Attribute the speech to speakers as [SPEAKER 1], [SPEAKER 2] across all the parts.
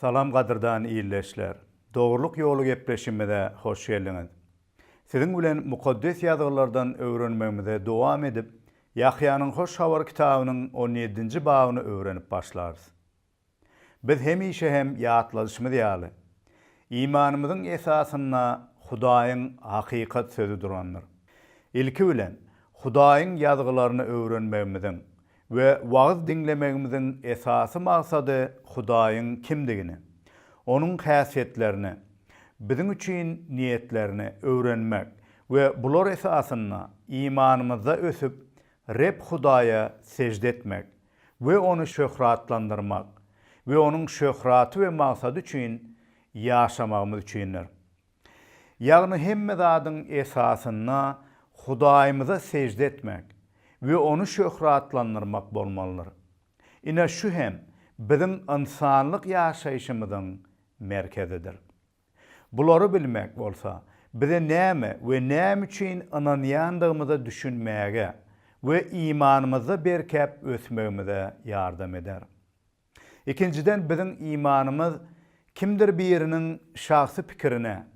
[SPEAKER 1] Salam gadyrdan ildeşler! Dogrulyk ýoly gepleşigimize hoş geldiňiz. Siziň bilen Mukaddes Ýazgylardan öwrenmegimize dowam edip, Ýahýanyň Hoş Habary kitabynyň on ýedinji babyny öwrenip başlarys. Biz hemişe hem ýatladyşymyz ýaly, imanymyzyň esasynda Hudaýyň hakykat Sözi durandyr. Ilki bilen, Hudaýyň Ýazgylaryny öwrenmegimiziň we wagyz diňlemegimiziň esasy maksady Hudaýyň kimdigini, Onuň häsiýetlerini, biziň üçin niýetlerini öwrenmek we bular esasynda imanymyzda ösüp, Reb Hudaýa sežde etmek we Ony şöhratlandyrmak we Onuň şöhraty we maksady üçin ýaşamagymyz üçindir. ýagny hemme zadyň esasynda Hudaýymyza sežde etmek we Ony şöhratlandyrmak bolmalydyr. Ine, şu hem biziň ynsanlyk ýaşaýşymyzyň merkezidir. Bulary bilmek bolsa, bize näme we näme üçin ynanýandygymyza düşünmäge we imanymyzda berkäp ösmegimize ýardam eder. Ikinjiden, biziň imanymyz kimdir biriniň şahsy pikirine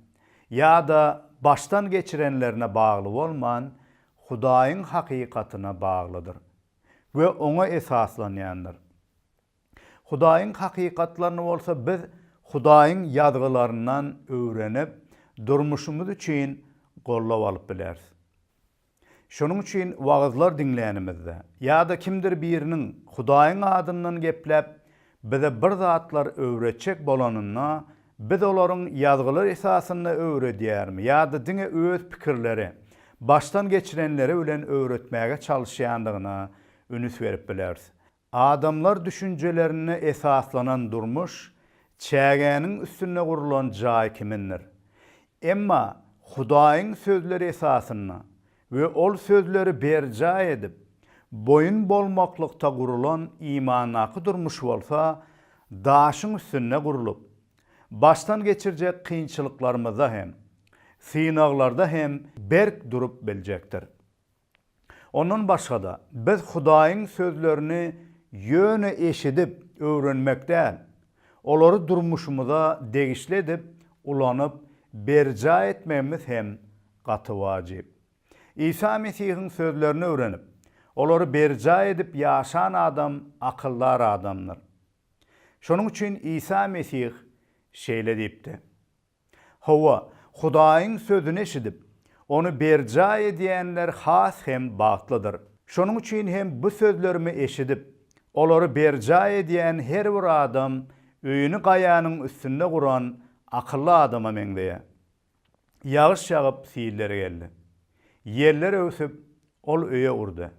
[SPEAKER 1] ýa-da başdan geçirenlerine bagly bolman, Hudaýyň hakykatyna baglydyr we oňa esaslanýandyr. Hudaýyň hakykatlaryny bolsa biz Hudaýyň Ýazgylaryndan öwrenip, durmuşymyz üçin gollap alyp bileris. Şonuň üçin wagyzlar diňlänimizde ýa-da kimdir biriniň Hudaýyň adyndan gepläp, bize bir zatlar öwretjek bolanynda, biz olaryň Ýazgylar esasynda öwredýärmi ýa-da diňe öz pikirleri, başdan geçirenleri bilen öwretmäge çalyşýandygyna üns berip bileris. Adamlar düşünjelerine esaslanan durmuş çägäniň üstünde gurlan jaý kimindir. Emma Hudaýyň sözleri esasynda we ol sözleri berjaý edip, boýun bolmaklykda gurulan imandaky durmuş bolsa daşyň üstünde gurlup, başdan geçirjek kynçylyklarymyzda hem, synaglarda hem berk durup biljekdir. Ondan başga-da, biz Hudaýyň sözlerini ýöne eşidip, öwrenmek däl, olary durmuşymyza degişli edip, ulanyp, berjaý etmegimiz hem gaty wajyp. Isa Mesihiň sözlerini öwrenip, olary berjaý edip ýaşan adam akyldar adamdyr. Şonuň üçin Isa Mesih şeýle diýipdi. Hawa, Hudaýyň sözüni eşidip, ony berjaý edýänler has hem bagtlydyr. Şonuň üçin hem bu sözlerimi eşidip, olary berjaý edýän her bir adam öýüni gaýanyň üstünde guran akylly adama meňzeýär. Ýagyş ýagyp, silleri geldi. Ýeller öwsüp, ol öýe urdy.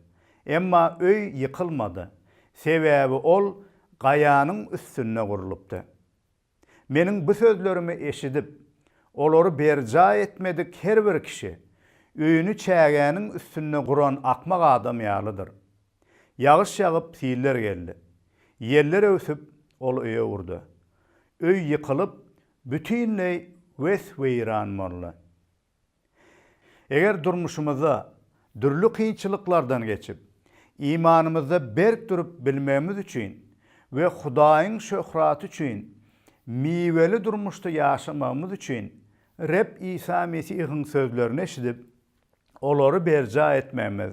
[SPEAKER 1] Emma öý ýykylmady, sebäbi ol gaýanyň üstünde gurlupdy. Meniň bu sözlerimi eşidip, olary berjaý etmedik her bir kişi, öýüni çägäniň üstünde guran akmak adam ýalydyr. Ýagyş ýagyp, siller geldi. Ýeller öwsüp, ol öýe urdy. Öý ýykylyp, bütinleý wes-weýran boldy. Eger durmuşymyzda dürli kynçylyklardan geçip, imanymyzda berk durup bilmegimiz üçin we Hudaýyň şöhraty üçin miweli durmuşda ýaşamagymyz üçin Reb Isa Mesihiň sözlerini eşidip, olary berjaý etmegimiz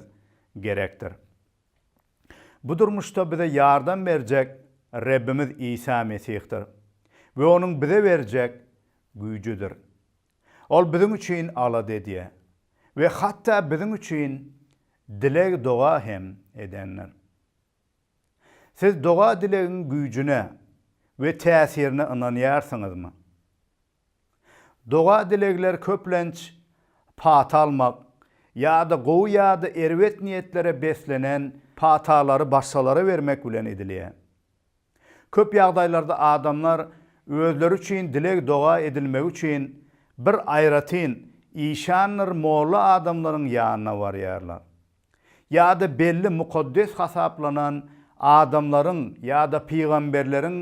[SPEAKER 1] gerekdir. Bu durmuşda bize ýardam berjek Rebimiz Isa Mesihdir we Onuň bize berjek güýjüdir. Ol biziň üçin alada edýär we hatda biziň üçin dileg-doga hem edendir. Siz doga-dilegiň güýjüne we täsirine ynanýarsyňyzmy? Doga-dilegler köplenç pata almak ýa-da gowy ýa-da erbet niýetlere beslenen patalary başgalara bermek bilen edilýär. Köp ýagdaýlarda adamlar özleri üçin dileg-doga edilmegi üçin bir aýratyn işandyr molla adamlaryň ýanyna barýarlar. Ýa-da belli mukaddes hasaplanan adamlaryň ýa-da pygamberleriň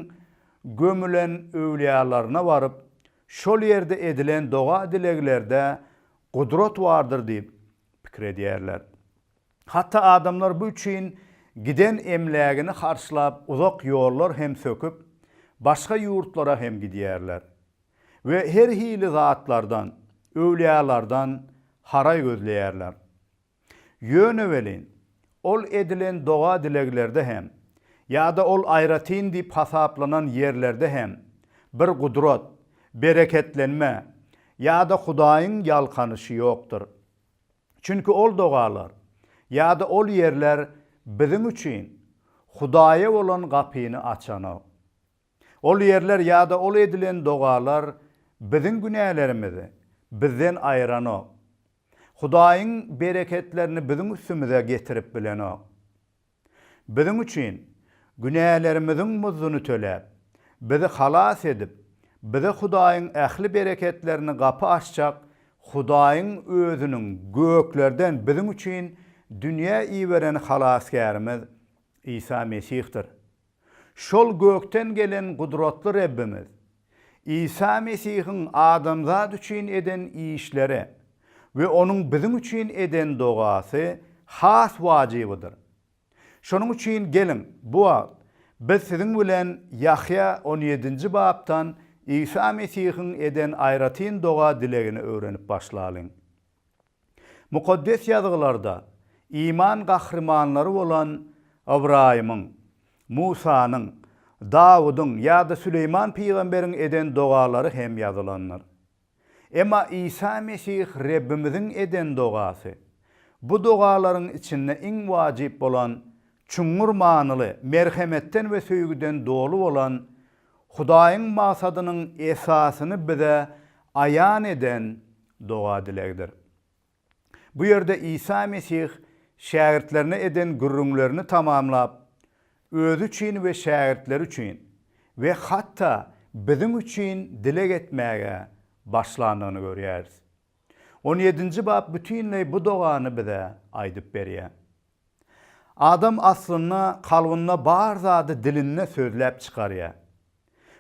[SPEAKER 1] gömülen öwlýalaryna baryp, şol ýerde edilen doga-dileglerde gudrat bardyr diýip pikir edýärler. Hatda adamlar bu üçin giden emlägini harçlap uzak ýollar hem söküp, başga ýurtlara hem gidýärler we her hili zatlardan, öwliýalardan haraý gözleýärler. Ýöne welin, ol edilen doga-dileglerde hem, ýa-da ol aýratyn diýip hasaplanan ýerlerde hem bir gudrat, bereketlenme ýa-da Hudaýyň ýalkanyşy ýokdur. Çünki ol dogalar ýa-da ol ýerler biziň üçin Hudaýa bolan gapyny açanok. Ol ýerler ýa-da ol edilen dogalar biziň günälerimizi bizden aýyranok. Hudaýyň bereketlerini biziň üstümize getirip bilenok. Biziň üçin günälerimiziň muzduny töläp, bizi halas edip, bize Hudaýyň ähli bereketlerini gapy açjak Hudaýyň Özüniň göklerden biziň üçin dünýä iberen Halasgärimiz Isa Mesihdir. Şol gökden gelen gudratly Rebbimiz Isa Mesihiň adamzat üçin eden işleri we onuň biziň üçin eden dogasy has wajybydyr. Şonuň üçin geliň, bu wagt biz siziň bilen Ýahýa on ýedinji bapdan Isa Mesihiň eden aýratyn doga-dilegini öwrenip başlalyň. Mukaddes Ýazgylarda iman gahrymanlary bolan Ybraýymyň, Musanyň, Dawudyň ýa-da Süleýman pygamberiň eden dogalary hem ýazylandyr. Emma Isa Mesih Rebbimiziň eden dogasy, bu dogalaryň içinde iň wajyp bolan, çuňňur manyly, merhemetden we söýgüden doly bolan, Hudaýyň magsadynyň esasyny bize aýan eden doga-dilegdir. Bu ýerde Isa Mesih şägirtlerine eden gürrüňlerini tamamlap, özi üçin we şägirtleri üçin we hatda biziň üçin dileg etmäge başlandygyny görýäris. On ýedinji bap bütinleý bu dogany bize aýdyp berýär. Adam aslynda kalbynda bar zady dilinde sözläp çykarýar.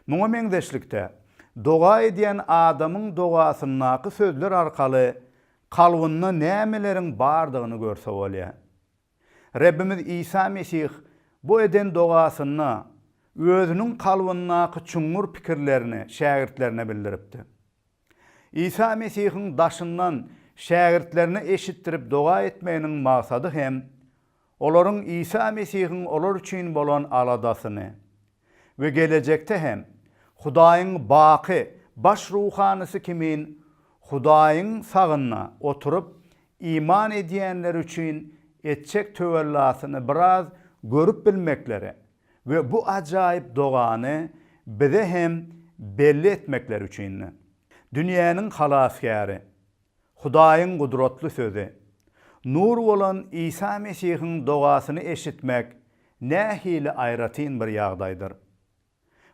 [SPEAKER 1] Muňa meňzeşlikde, doga edýän adamyň dogasyndaky sözler arkaly kalbynda nämeleriň bardygyny görse bolýar. Rebbimiz Isa Mesih bu eden dogasynda Özüniň kalbyndaky çuňňur pikirlerini şägirtlerine bildiripdi. Isa Mesihiň daşyndan şägirtlerine eşitdirip doga etmeginiň maksady hem olaryň Isa Mesihiň olar üçin bolan aladasyny we gelejekde hem Hudaýyň baky Baş ruhanysy kimin Hudaýyň sagynda oturyp iman edýänleri üçin etjek töwellasyny biraz görüp bilmekleri we bu ajaýyp dogany bize hem belli etmekleri üçindi. Dünýäniň Halasgäri, Hudaýyň gudratly sözi, nur bolan Isa Mesihiň dogasyny eşitmek nähili aýratyn bir ýagdaýdyr!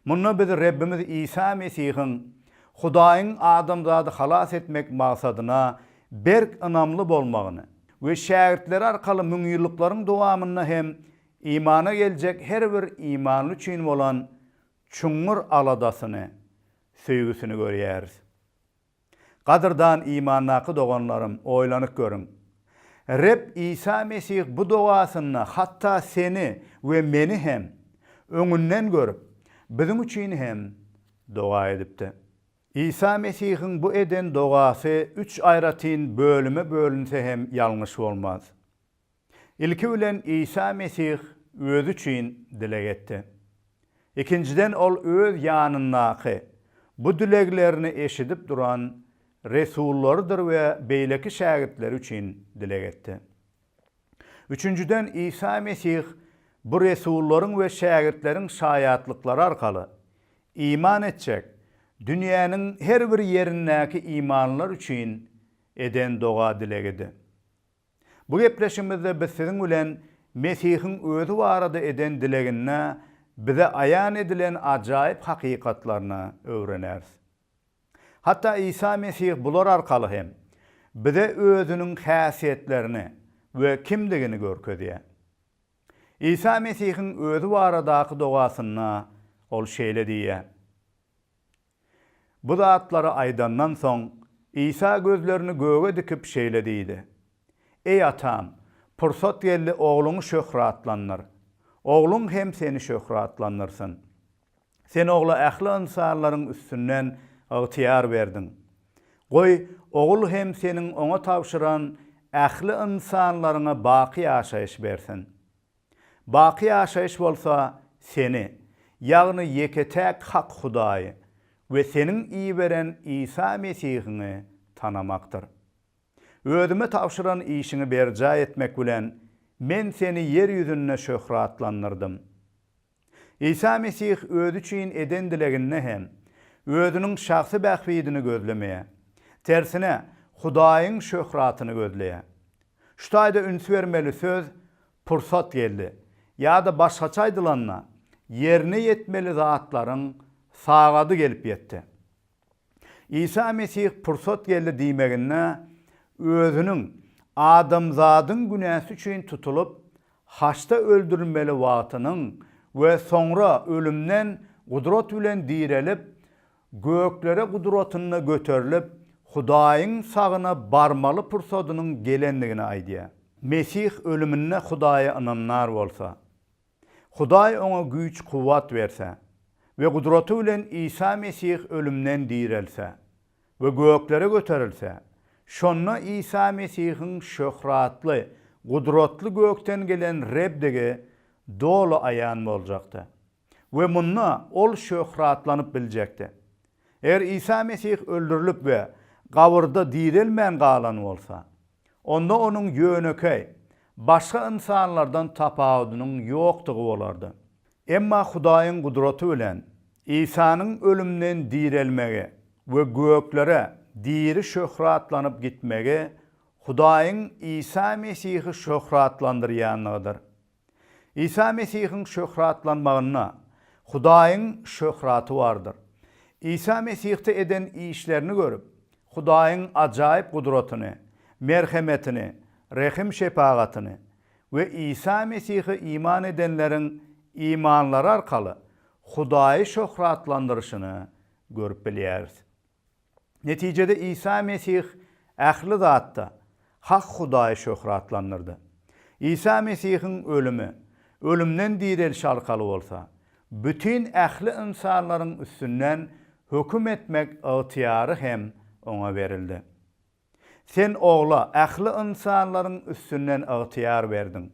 [SPEAKER 1] Munda biz Rebbimiz Isa Mesihiň Hudaýyň adamzady halas etmek maksadyna berk ynamly bolmagyny we şägirtleri arkaly müňýyllyklaryň dowamynda hem Imana geljek her bir imanly üçin bolan çuňňur aladasyny, söýgüsini görýäris. Gadyrdan imandaky doganlarym, oýlanyp görüň! Reb Isa Mesih bu dogasynda hatda seni we meni hem öňünden görüp, biziň üçin hem doga edipdi. Isa Mesihiň bu eden dogasy üç aýratyn bölüme bölünse hem ýalňyş bolmaz. Ilki bilen Isa Mesih özi üçin dileg etdi. Ikinjiden ol öz ýanyndaky, bu dileglerini eşidip duran resullarydyr we beýleki şägirtleri üçin dileg etdi. Üçünjiden Isa Mesih bu resullaryň we şägirtleriň şaýatlyklary arkaly, iman etjek, dünýäniň her bir ýerindäki imanlylar üçin eden doga-dilegidi. Bu gepleşigimizde biz siziň bilen Mesihiň özi barada eden dileginde bize aýan edilen ajaýyp hakykatlaryny öwreneris. Hatda Isa Mesih bular arkaly hem bize özüniň häsiýetlerini we kimdigini görkezýär. Isa Mesihiň özi baradaky dogasynda ol şeýle diýýär, Bu zatlary aýdandan soň, Isa gözlerini göge dikip şeýle diýdi, Eý, Atam, pursat geldi Ogluňy şöhratlandyr. Ogluň hem Seni şöhratlandyrsyn. Sen Ogla ähli ynsanlaryň üstünden ygtyýar berdiň. Goý, Ogul hem Seniň Oňa tabşyran ähli ynsanlaryňa baky ýaşaýyş bersin. Baky ýaşaýyş bolsa Seni, ýagny ýeke-täk hak Hudaýy we Seniň iberen Isa Mesihiňi tanamakdyr. Özüme tabşyran işiňi berjaý etmek bilen, men Seni ýer ýüzünde şöhratlandyrdym. Isa Mesih özi üçin eden dileginde hem özüniň şahsy bähbidini gözlemeýär. Tersine, Hudaýyň şöhratyny gözleýär. Şu taýda üns bermeli söz pursat geldi, ýa-da başgaça aýdylanda, ýerine ýetmeli zatlaryň sagady gelip ýetdi. Isa Mesih pursat geldi diýmeginde Özüniň adamzadyň günäsi üçin tutulyp, haçda öldürilmeli wagtynyň we soňra ölümden gudrat bilen direlip, göklere gudratynda göterilip, Hudaýyň sagyna barmaly pursadynyň gelendigini aýdýar. Mesih ölüminde Hudaýa ynanýar bolsa, Hudaý oňa güýç-kuwwat berse we gudraty bilen Isa Mesih ölümden direlse we göklere göterilse, şonda Isa Mesihiň şöhratly, gudratly gökden gelen Rebdigi doly aýan boljakdy we munda ol şöhratlanyp biljekdi. Eger Isa Mesih öldürilip we gabyrda direlmän galan bolsa, Onda onuň ýönekeý, başga ynsanlardan tapawudynyň ýokdugy bolardy. Emma Hudaýyň gudraty bilen Isanyň ölümden direlmegi we göklere diri şöhratlanyp gitmegi Hudaýyň Isa Mesihi şöhratlandyrýanlygydyr. Isa Mesihiň şöhratlanmagynda Hudaýyň şöhraty bardyr. Isa Mesihde eden işlerini görüp, Hudaýyň ajaýyp gudratyny, merhemetini, rehim-şepagatyny we Isa Mesihe iman edenleriň imanlary arkaly Hudaýy şöhratlandyryşyny görüp bilýäris. Netijede Isa Mesih ähli zatda hak Hudaýy şöhratlandyrdy. Isa Mesihiň ölümi, ölümden direlişi arkaly bolsa, bütin ähli ynsanlaryň üstünden höküm etmek ygtyýary hem oňa berildi. Sen Ogla ähli ynsanlaryň üstünden ygtyýar berdiň.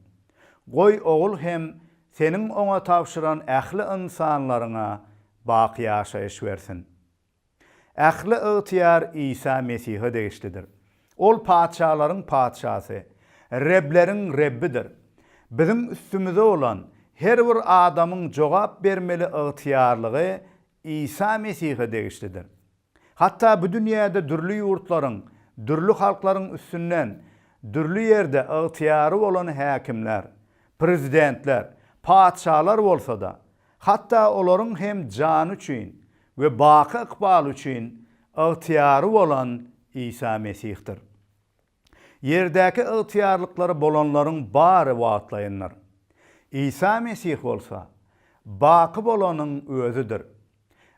[SPEAKER 1] Goý, Ogul hem Seniň oňa tabşyran ähli ynsanlaryňa baky ýaşaýyş bersin. Ähli ygtyýar Isa Mesihe degişlidir. Ol patyşalaryň Patyşasy, Rebleriň Rebbidir. Biziň üstümize bolan her bir adamyň jogap bermeli ygtyýarlygy Isa Mesihe degişlidir. Hatda bu dünýäde dürli ýurtlaryň, dürli halklaryň üstünden dürli ýerde ygtyýary bolan häkimler, prezidentler, patyşalar bolsa-da, Hatda olaryň hem jany üçin we baky ykbaly üçin ygtyýary bolan Isa Mesihdir. Ýerdäki ygtyýarlyklary bolanlaryň bary wagtlaýyndyr. Isa Mesih bolsa, baky bolanyň Özüdir.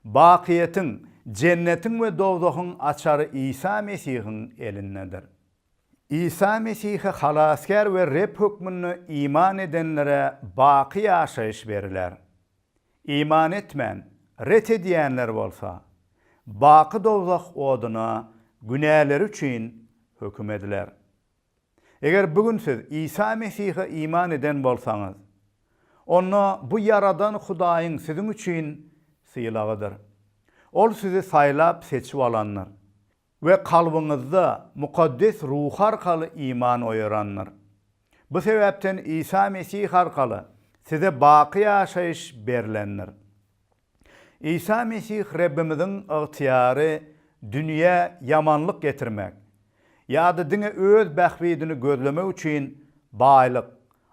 [SPEAKER 1] Bakyýetiň, jennetiň we dowzahyň açary Isa Mesihiň elindedir. Isa Mesihe Halasgär we Reb hökmünde iman edenlere baky ýaşaýyş beriler. Iman etmän, ret edýänler bolsa, baky dowzah oduna günäleri üçin höküm ediler. Eger bu gün siz Isa Mesihe iman eden bolsaňyz, onda bu Ýaradan Hudaýyň siziň üçin sylagydyr. Ol sizi saýlap-seçip alandyr. We kalbyňyzda Mukaddes Ruh arkaly iman oýarandyr. Bu sebäpden Isa Mesih arkaly size baky ýaşaýyş berlendir. Isa Mesih Rebbimiziň ygtyýary dünýä ýamanlyk getirmek ýa-da diňe öz bähbidini gözlemek üçin baýlyk,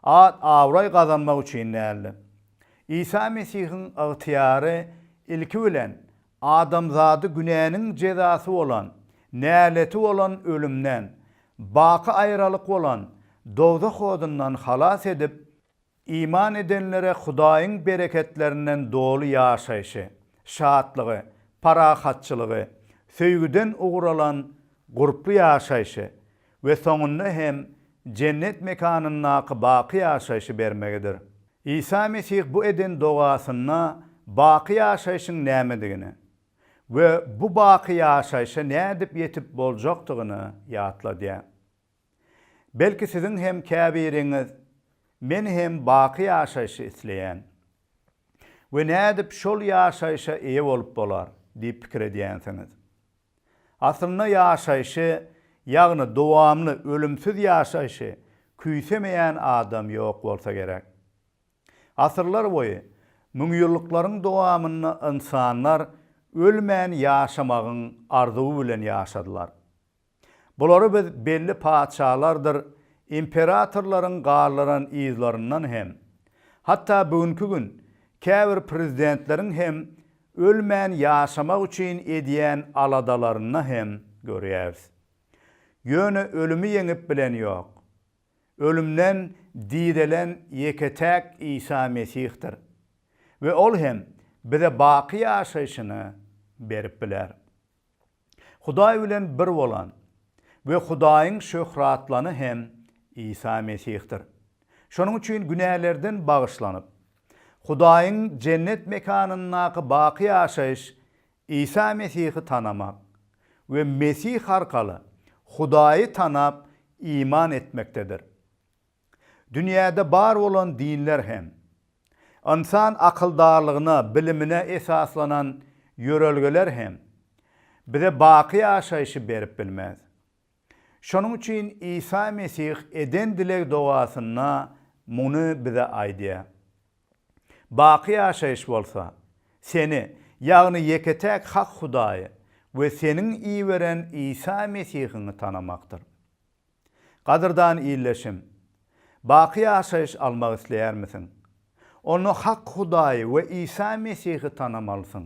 [SPEAKER 1] at-abraý gazanmak üçin däldi. Isa Mesihiň ygtyýary ilki bilen Adamzady günäniň jezasy bolan, näleti bolan ölümden, baky aýralyk bolan dowzah odundan halas edip, iman edenlere Hudaýyň bereketlerinden doly ýaşaýşy, şatlygy, parahatçylygy, söýgüden ugur alan gurply ýaşaýşy we soňunda hem jennet mekanyndaky baky ýaşaýşy bermegidir. Isa Mesih bu eden dogasynda baky ýaşaýşyň nämedigini we bu baky ýaşaýşa nädip ýetip boljakdygyny ýatladýar. Belki siziň hem käbiriňiz, Men hem baky ýaşaýşy isleýän. We nädip şol ýaşaýşa eýe bolup bolar? diýip pikir edýänsiňiz. Asylly ýaşaýşy, ýagny dowamly ölümsiz ýaşaýşy küýsemeýän adam ýok bolsa gerek. Asyrlar boýy, müňýyllyklaryň dowamynda ynsanlar ölmän ýaşamagyň arzuwy bilen ýaşadylar. Bulary biz belli patyşalardyr imperatorlaryň galdyran yzlaryndan hem, hatda bu günki gün käbir prezidentleriň hem Ölmän ýaşamak üçin edýän aladalarynda hem görýäris. Ýöne ölümi ýeňip bilen ýok. Ölümden direlen ýeke-täk Isa Mesihdir we ol hem bize baky ýaşaýşyny berip biler. Hudaý bilen bir bolan we Hudaýyň şöhratlany hem Isa Mesihdir. Şonuň üçin günälerden bagyşlanyp, Hudaýyň Jennet mekanyndaky baky ýaşaýyş Isa Mesihi tanamak we Mesih arkaly Hudaýy tanap iman etmekdedir. Dünýäde bar bolan dinler hem, ynsan akyldarlygyna, bilimine esaslanan ýörelgeler hem bize baky ýaşaýşy berip bilmez. Şonuň üçin Isa Mesih eden dileg-dogasynda muny bize aýdýar. Baky ýaşaýyş bolsa, seni, ýagny ýeke-täk hak Hudaýy we seniň iberen Isa Mesihiňi tanamakdyr. Gadyrdan ildeşim! Baky ýaşaýyş almak isleýärmisiň? Onda hak Hudaýy we Isa Mesihi tanamalysyň.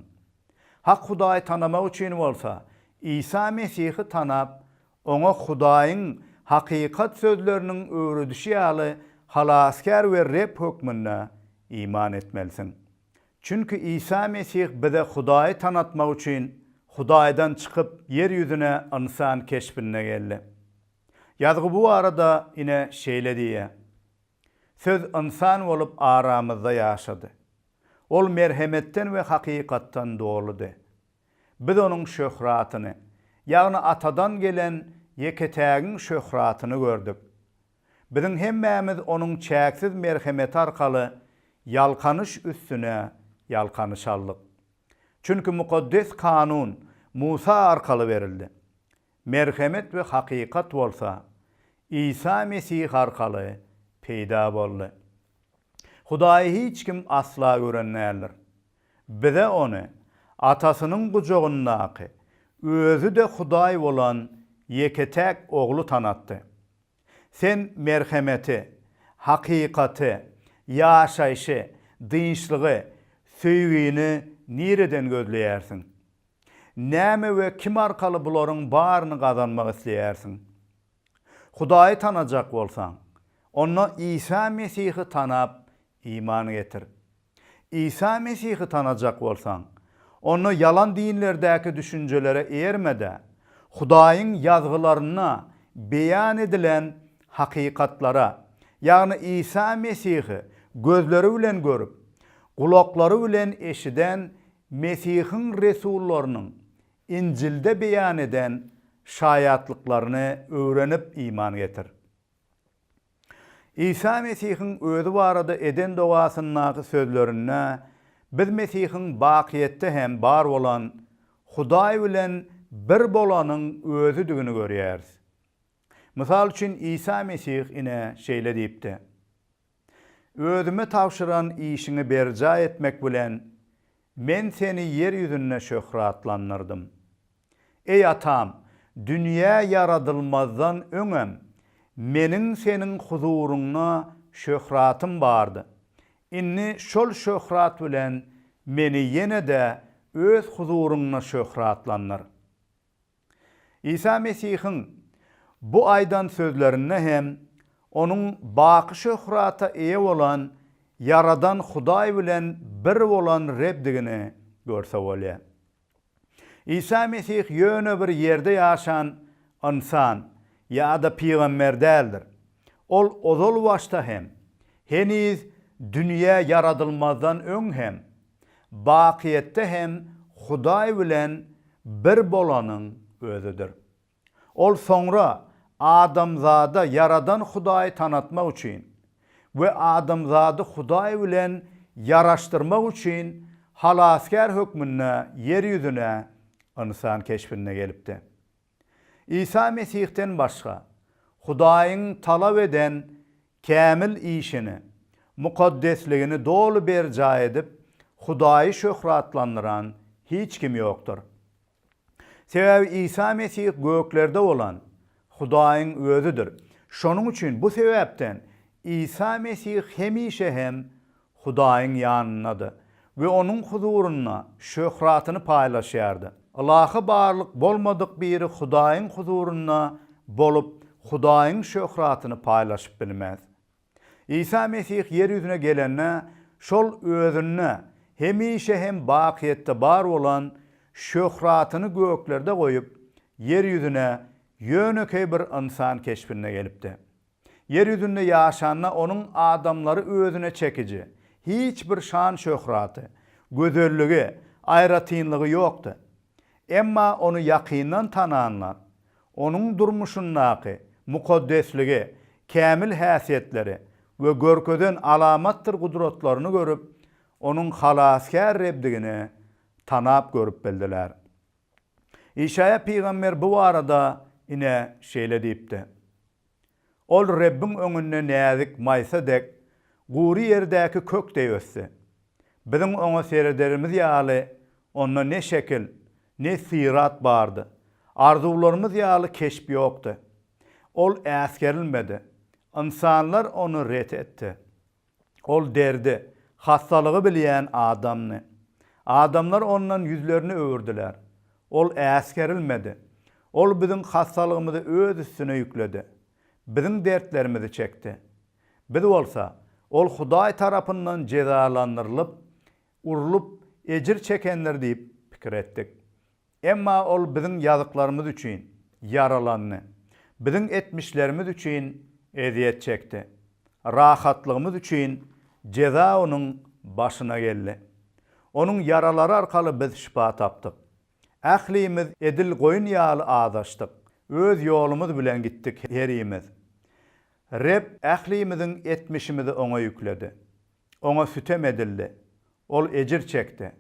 [SPEAKER 1] Hak Hudaýy tanamak üçin bolsa, Isa Mesihi tanap, oňa Hudaýyň hakykat sözleriniň öwredişi ýaly Halasgär we Reb hökmünde iman etmelisiň. Çünki Isa Mesih bize Hudaýy tanatmak üçin Hudaýdan çykyp, ýer ýüzüne ynsan keşbinde geldi. Ýazgy bu barada ine şeýle diýýär, Söz ynsan bolup aramyzda ýaşady. Ol merhemetden we hakykatdan doludy. Biz onuň şöhratyny, ýagny Atadan gelen ýeke-tägiň şöhratyny gördük. Biziň hemmämiz Onuň çäksiz merhemeti arkaly ýalkanyş üstüne ýalkanyş aldyk. Çünki Mukaddes Kanun Musa arkaly berildi. Merhemet we hakykat bolsa Isa Mesih arkaly peýda boldy. Hudaýy hiç kim asla gören däldir. Bize Ony Atasynyň gujagyndaky, Özi-de Hudaý bolan ýeke-täk Ogly tanatdy. Sen merhemeti, hakykaty, ýaşaýşy, dynçlygy, söýgini nireden gözleýärsiň? Näme we kim arkaly bularyň baryny gazanmak isleýärsiň? Hudaýy tanajak bolsaň, onda Isa Mesihi tanap Iman getir. Isa Mesihi tanajak bolsaň, onda ýalan dinlerdäki düşünjelere eýerme-de, Hudaýyň Ýazgylarynda beýan edilen hakykatlara, ýagny Isa Mesihi gözleri bilen görüp, gulaklary bilen eşiden Mesihiň resullarynyň Injilde beýan eden şaýatlyklaryny öwrenip iman getir. Isa Mesihiň özi barada eden dogasyndaky sözlerinde biz Mesihiň bakyýetde hem bar bolan Hudaý bilen bir bolanyň Özüdigini görýäris. Mysal üçin, Isa Mesih ine, şeýle diýipdi, Özüme tabşyran işiňi berjaý etmek bilen, Men seni ýer ýüzünde şöhratlandyrdym. Eý atam, dünýä ýaradylmazdan öňem, meniň seniň huzuryňda şöhratym bardy. Indi şol şöhrat bilen meni ýene-de Öz huzuryňda şöhratlandyr. Isa Mesihiň bu aýdan sözlerinde hem Onuň baky şöhrata eýe bolan Ýaradan Hudaý bilen bir bolan Rebdigini görse bolýar. Isa Mesih ýöne bir ýerde ýaşan ynsan ýa-da pygamber däldir. Ol ozal başda hem, heniz dünýä ýaradylmazdan öň hem, bakyýetde hem Hudaý bilen bir bolanyň Özüdir. Ol soňra adamzada Ýaradan Hudaýy tanatmak üçin we adamzady Hudaý bilen ýaraşdyrmak üçin Halasgär hökmünde ýer ýüzüne ynsan keşbinde gelipdi. Isa Mesihden başga, Hudaýyň talap eden kämil işini, mukaddesligini doly berjaý edip, Hudaýy şöhratlandyran hiç kim ýokdur. Sebäbi Isa Mesih göklerde bolan Hudaýyň Özüdir. Şonuň üçin bu sebäpden Isa Mesih hemişe hem Hudaýyň ýanyndady we Onuň huzurynda şöhratyny paýlaşýardy. Ylahy barlyk bolmadyk biri Hudaýyň huzurynda bolup, Hudaýyň şöhratyny paýlaşyp bilmez. Isa Mesih ýer ýüzüne gelende, şol Özünde hemişe hem bakyýetde bar bolan şöhratyny göklerde goýup, ýer ýüzüne ýönekeý bir ynsan keşbinde gelipdi. Ýer ýüzünde ýaşanda Onuň adamlary Özüne çekiji, hiç bir şan-şöhraty, gözelligi, aýratynlygy ýokdy. Emma Ony ýakyndan tananlar, Onuň durmuşyndaky mukaddesligi, kämil häsiýetleri we görkezen alamatdyr gudratlaryny görüp, Onuň Halasgär Rebdigini tanap görüp bildiler. Işaýa pygamber bu barada ine şeýle diýipdi. Ol Rebbiň öňünde näzik maýsa dek, gury ýerdäki kök deý ösdi. Biziň oňa serederimiz ýaly, onda ne şekil, ne syrat bardy. Arzuwlarymyz ýaly keşp ýokdy. Ol äsgerilmedi. Ynsanlar ony ret etdi. Ol derdi, hassalygy bilýän adamdy. Adamlar ondan ýüzlerini öwürdiler. Ol äsgerilmedi. Ol biziň hassalygymyzy öz üstüne ýükledi. Biziň dertlerimizi çekdi. Biz bolsa, Ol Hudaý tarapyndan jezalandyrylyp, urlup, ejir çekendir diýip pikir etdik. Emma Ol biziň ýazyklarymyz üçin ýaralandy, biziň etmişlerimiz üçin ezýet çekdi, rahatlygymyz üçin jeza Onuň başyna geldi. Onuň ýaralary arkaly biz şypa tapdyk. Ählimiz edil goýun ýaly azaşdyk, öz ýolumyz bilen gitdik herimiz. Reb ählimiziň etmişimizi Oňa ýükledi. Oňa sütem edildi, ol ejir çekdi,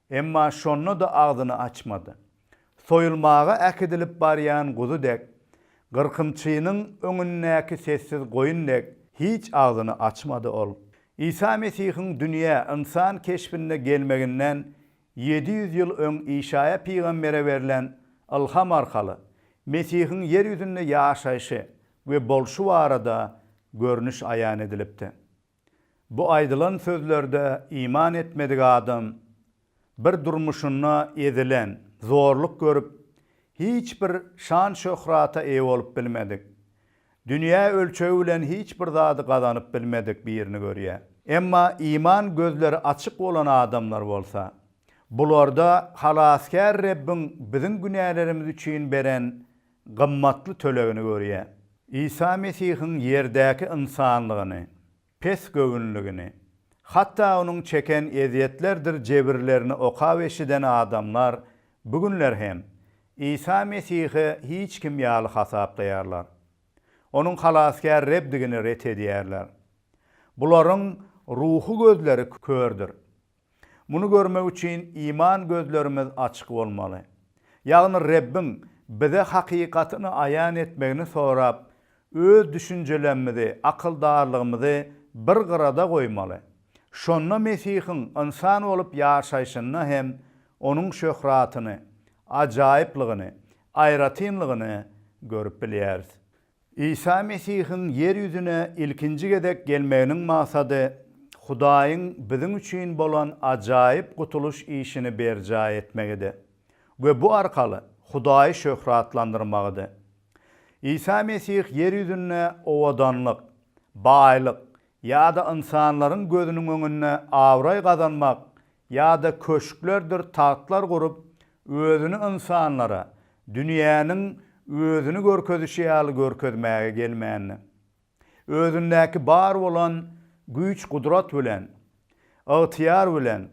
[SPEAKER 1] emma şonda-da agzyny açmady. Soýulmaga äkidilip barýan guzy dek, gyrkymçynyň öňündäki sessiz goýun dek hiç agzyny açmady ol. Isa Mesihiň dünýä ynsan keşbinde gelmeginden ýedi ýüz ýyl öň Işaýa pygambere berlen ylham arkaly Mesihiň ýer ýüzünde ýaşaýşy we bolşy barada görnüş aýan edilipdi. Bu aýdylan sözlerde iman etmedik adam bir durmuşynda ezilen, zorluk görüp, hiç bir şan-şöhrata eýe bolup bilmedik, dünýä ölçegi bilen hiç bir zady gazanyp bilmedik birini görýär. Emma iman gözleri açyk bolan adamlar bolsa, bularda Halasgär Rebbiň biziň günälerimiz üçin beren gymmatly tölegini görýär. Isa Mesihiň ýerdäki ynsanlygyny, pes göwünligini, hatda onuň çeken ezýetlerdir jebirlerini okap-eşiden adamlar bu günler hem Isa Mesihi hiç kim ýaly hasaplaýarlar. Onuň Halasgär Rebdigini ret edýärler. Bularyň ruhy gözleri kördür. Muny görmek üçin iman gözlerimiz açyk bolmaly. Ýagny Rebbiň bize hakykatyny aýan etmegini sorap, öz düşünjelemmizi, akyldarlygymyzy bir gyrada goýmaly. Şonda Mesihiň ynsan bolup ýaşaýşyny hem Onuň şöhratyny, ajaýyplygyny, aýratynlygyny görüp bilýäris. Isa Mesihiň ýer ýüzüne ilkinji gezek gelmeginiň maksady Hudaýyň biziň üçin bolan ajaýyp gutulyş işini berjaý etmegidi we bu arkaly Hudaýy şöhratlandyrmagydy. Isa Mesih ýer ýüzünde owadanlyk, baýlyk ýa-da ynsanlaryň gözüniň öňünde abraý gazanmak ýa-da köşklerdir tagtlar gurup, özüni ynsanlara dünýäniň özüni görkezişi ýaly görkezmäge gelmändi. Özündäki bar bolan güýç-gudrat bilen, ygtyýar bilen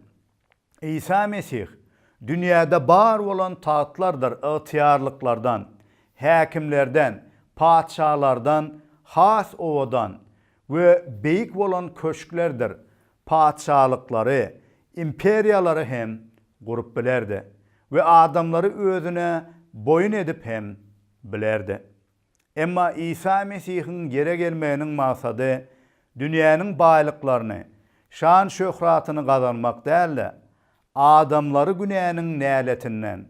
[SPEAKER 1] Isa Mesih dünýäde bar bolan tagtlardyr ygtyýarlyklardan, häkimlerden, patyşalardan has owadan we beýik bolan köşklerdir patyşalyklary, imperiýalary hem gurup bilerdi we adamlary özüne boýun edip hem bilerdi. Emma Isa Mesihiň ýere gelmeginiň maksady dünýäniň baýlyklaryny, şan-şöhratyny gazanmak däl-de, adamlary günäniň näletinden,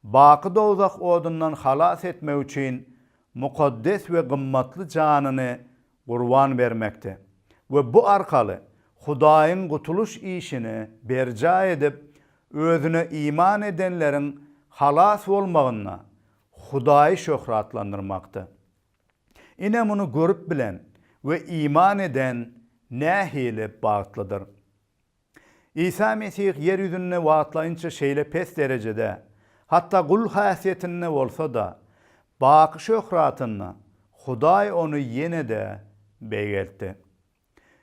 [SPEAKER 1] baky dowzah odundan halas etmek üçin mukaddes we gymmatly janyny gurban bermekde we bu arkaly Hudaýyň gutulyş işini berjaý edip, Özüne iman edenleriň halas bolmagynda Hudaýy şöhratlandyrmakdy. Ine, muny görüp bilen we iman eden nähili bagtlydyr! Isa Mesih ýer ýüzünde wagtlaýynça şeýle pes derejede, hatda gul häsiýetinde bolsa-da, baky şöhratynda Hudaý ony ýene-de beýgeltdi.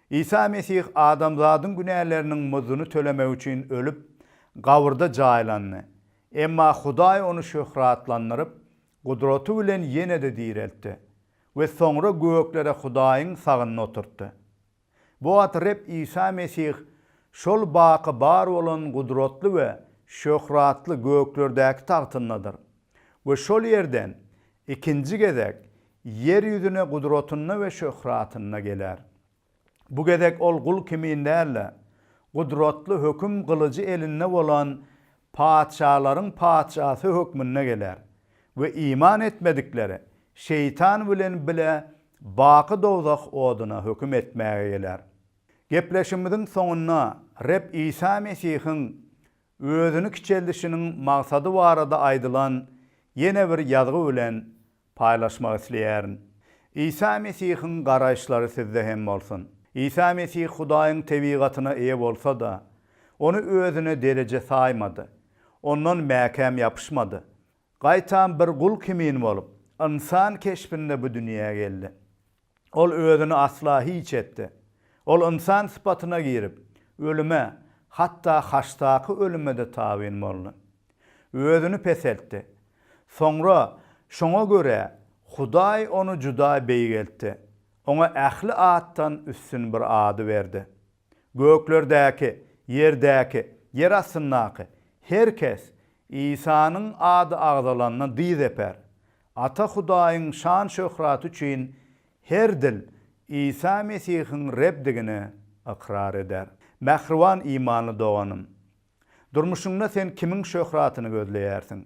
[SPEAKER 1] Isa Mesih adamzadyň günäleriniň muzuny tölemek üçin ölüp, gabyrda jaýlandy, emma Hudaý ony şöhratlandyryp, gudraty bilen ýene-de direltdi we soňra göklere Hudaýyň sagynda oturtdy. Bu wagt Reb Isa Mesih şol baky bar bolan gudratly we şöhratly göklerdäki tagtyndadyr we şol ýerden ikinji gezek ýer ýüzüne gudratynda we şöhratynda geler. Bu gezek ol gul kimin däl-de, gudratly höküm gylyjy elinde bolan Patyşalaryň Patyşasy hökmünde geler we iman etmedikleri şeýtan bilen bile baky dowzah oduna höküm etmäge geler. Gepleşigimiziň soňunda Reb Isa Mesihiň Özüni kiçeldişiniň maksady barada aýdylan ýene bir ýazgy bilen paýlaşmak isleýärin. Isa Mesihiň garaýyşlary sizde hem bolsun. Isa Mesih Hudaýyň tebigatyna eýe bolsa-da, Ony özüne dereje saýmady. Ondan mäkäm ýapyşmady. Gaýtam bir gul kimin bolup, ynsan keşbinde bu dünýä geldi. Ol özüni asla hiç etdi. Ol ynsan sypatyna girip, ölüme, hatda haçdaky ölüme-de tabyn boldy. Özüni peseltdi. Soňra, şoňa görä, Hudaý ony juda beýgeltdi, oňa ähli atdan üstün bir ady berdi. Göklerdäki, ýerdäki, ýer astyndaky her kes Isanyň ady agzalanda dyz eper. Ata Hudaýyň şan-şöhraty üçin her dil Isa Mesihiň Rebdigini ykrar eder. Mähriban imanly doganym! Durmuşyňda sen kimiň şöhratyny gözleýärsiň?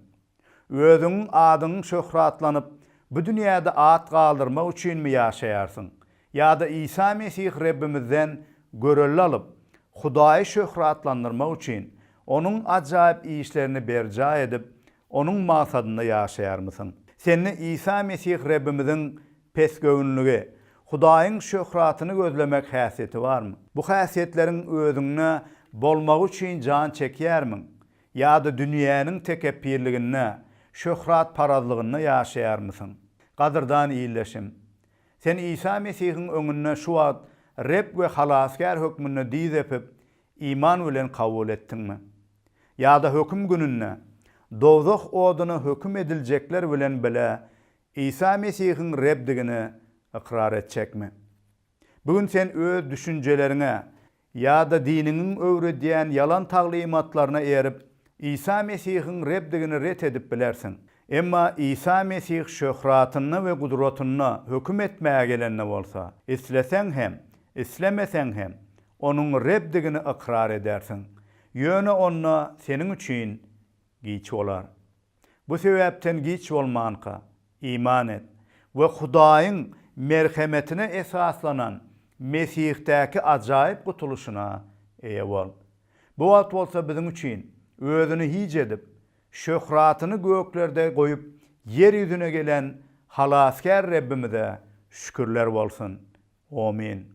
[SPEAKER 1] Özüň, adyň şöhratlanyp, bu dünýäde at galdyrmak üçinmi ýaşaýarsyň? Ýa-da Isa Mesih Rebbimizden görelde alyp, Hudaýy şöhratlandyrmak üçin, Onuň ajaýyp işlerini berjaý edip, Onuň magsadynda ýaşaýarmysyň? Sende Isa Mesih Rebbimiziň Pesgöwünligi, Hudaýyň şöhratyny gözlemek häsiýeti barmy? Bu häsiýetleriň özüňde bolmagy üçin jan çekýärmiň? Ýa-da dünýäniň tekepbirliginde, şöhratparazlygynda ýaşaýarmysyň? Gadyrdan ildeşim! Sen Isa Mesihiň öňünde şu wagt Reb we Halasgär hökmünde dyz öpüp, iman bilen kabul etdiňmi? Ýa-da höküm gününde, dowzah oduna höküm ediljekler bilen bile Isa Mesihiň Rebdigini ykrar etjekmi? Bu gün sen öz düşünjeleriňe ýa-da diniňiň öwredýän ýalan taglymatlaryna erip, Isa Mesihiň Rebdigini ret edip bilersiň. Emma Isa Mesih şöhratynda we gudratynda höküm etmäge gelende bolsa, isleseň hem, islemeseň hem, Onuň Rebdigini ykrar edersiň. Ýöne onda seniň üçin Giç bolar. Bu sebäpden giç bolmanka, iman et we Hudaýyň merhemetine esaslanan Mesihdäki ajaýyp gutulyşyna eýe bol. Bu wagt bolsa biziň üçin Özüni hiç edip, şöhratyny göklerde goýup, ýer ýüzüne gelen Halasgär Rebbimize şükürler bolsun! Omyn.